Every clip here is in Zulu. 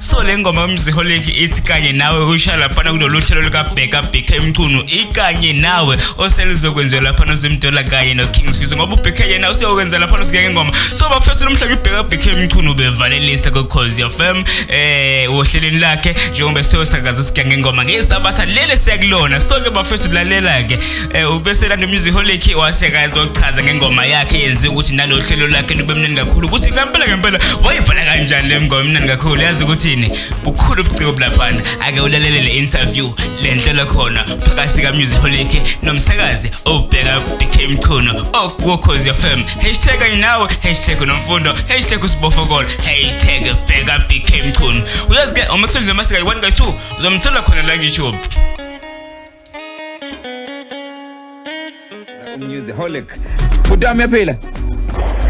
so le ngoma yomziholeki ithi kanye nawe usha laphana kulolu hlelo lukabheka bheka emchunu ikanye nawe oseluzokwenziwa laphana uzimdola kanye nokings fizo ngoba ubheka yena useyokwenza laphana usike ngengoma so bafethu lo mhlaka ibheka bheka emchunu ubevalelisa kukhozi fm eh ohlelweni lakhe njengoba seyosakaza usike ngengoma ngesabasa lele siyakulona so ke bafethu lalela-ke Eh ubesela nomusic holic waseka ezochaza ngengoma yakhe yenze ukuthi nalo hlelo lakhe lube mnandi kakhulu ukuthi ngempela ngempela wayibhala kanjani le ngoma mnandi kakhulu yazi ukuthini bukhulu ubuciko bulaphana ake ulalele le interview le nhlelo khona phakathi ka music holic nomsakazi obheka BK Mchunu okukhozi FM hashtag kanye nawe hashtag nomfundo hashtag usibofokolo hashtag bheka BK Mchunu uyazi ke uma kusenziwa masika 1 ka 2 uzomthola khona la ku YouTube Musiholic. Bhutam yaphila.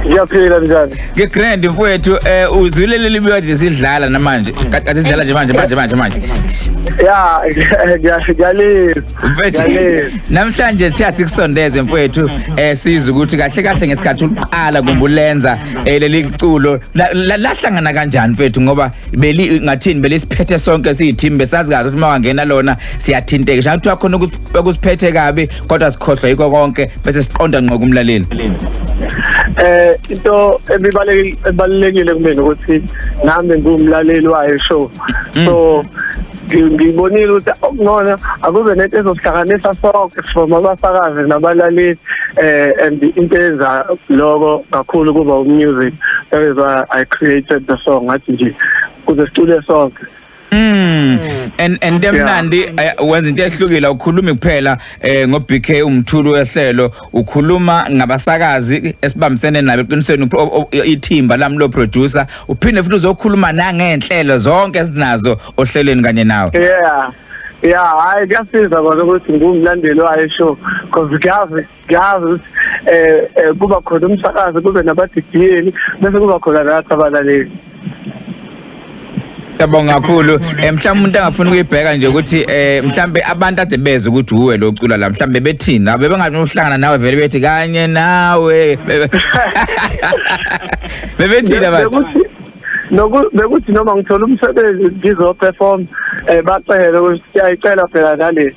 Ngiyaphila njani? Ke grand mfowethu eh uzwile leli biyodi sidlala namanje. Kade sidlala nje manje manje manje manje. Ya ngiyashiyalisa. Mfethu Ngiyalisa. namhlanje sithe sikusondeze mfowethu eh sizwe ukuthi kahle kahle ngesikhathi uqala kumbulenza eh, leli culo la- la- lahlangana kanjani mfethu ngoba beli ngathini belisiphethe sonke siyithimbe sazi kahle ukuthi mawangena lona siyathinteka sha kuthiwa khona okusiphethe kabi kodwa sikhohlwa yiko konke bese siqonda ngqo kumlaleli eh into ebibalekile kumina ukuthi nami ngumlaleli wayo show mm. so ngibonile ukuthi ngona akube nento ezosihlanganisa sonke from abasakazi nabalaleli eh and into enza lokho kakhulu kuba umusic that is why i created the song ngathi nje kuze sicule sonke Mm. And and emnandi eh, wenza into ehlukile ukhulumi kuphela eh ngo BK umthulu wehlelo ukhuluma ngabasakazi esibambisene nabo eqinisweni upro- o- o- ithimba lami lo producer uphinde futhi uzokhuluma nangenhlelo zonke esinazo ohlelweni kanye nawe. yeah yeah hayi kuyasiza kona ukuthi ngumlandeli wayo show because kuyazi girls eh, eh kuba khona umsakazi kube nabadidiyeli bese kuba khona nathi abalaleli Yabonga kakhulu. Eh mhlawumbe umuntu angafuna ukuyibheka nje ukuthi eh mhlambe abantu ade beze ukuthi uwe lo cula la mhlambe bethini la bebengahlangana nawe vele bethi kanye nawe. Bebethini abantu. Noku bekuthi noma ngithola umsebenzi ngizo perform eh bacele ukuthi siyayicela phela nale.